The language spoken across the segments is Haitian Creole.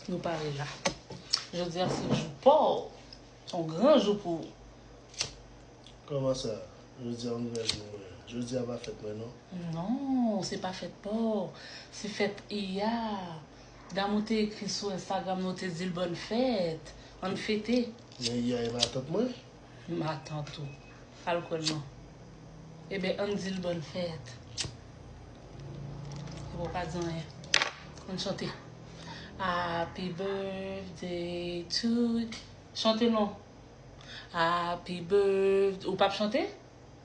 Nou pare la. Jodi a se jou pa w. Yon gran jou pou ou. Kòman sa? Jodi a yon gran jou pou mwen? Jodi a pa fèt mwen non. Non, se pa fèt pa w. Se fèt Iya. Dam ou te ekri sou Instagram nou te di l bòn fèt. Ann fete. Men Iya e pa tant mwen? Matant ou pral kwèl non. Eben ann dil bonne fête. Epi w pa di anyen. Ann chante. Happy birthday to Chante non. Happy birthday Ou pap chante?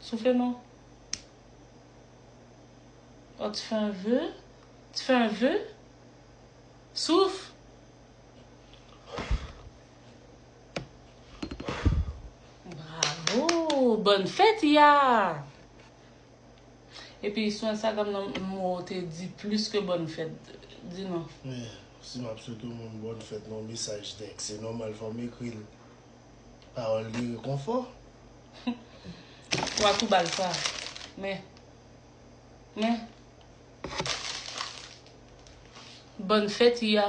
Soufle non. Oh tu fais un vœu? Tu fais un vœu? Souf! Bravo! Bonne fête, ya! E pi sou Instagram nan mou ou te di plis ke bonne fête. Di nou. Men, si m ap swete yon moun bonne fête nan yon mesaj tèks, se nòmal fò m ekri l. Pawòl gen rekonfò. Wa tou bal sa. Men. Men. Bòn fèt Iya.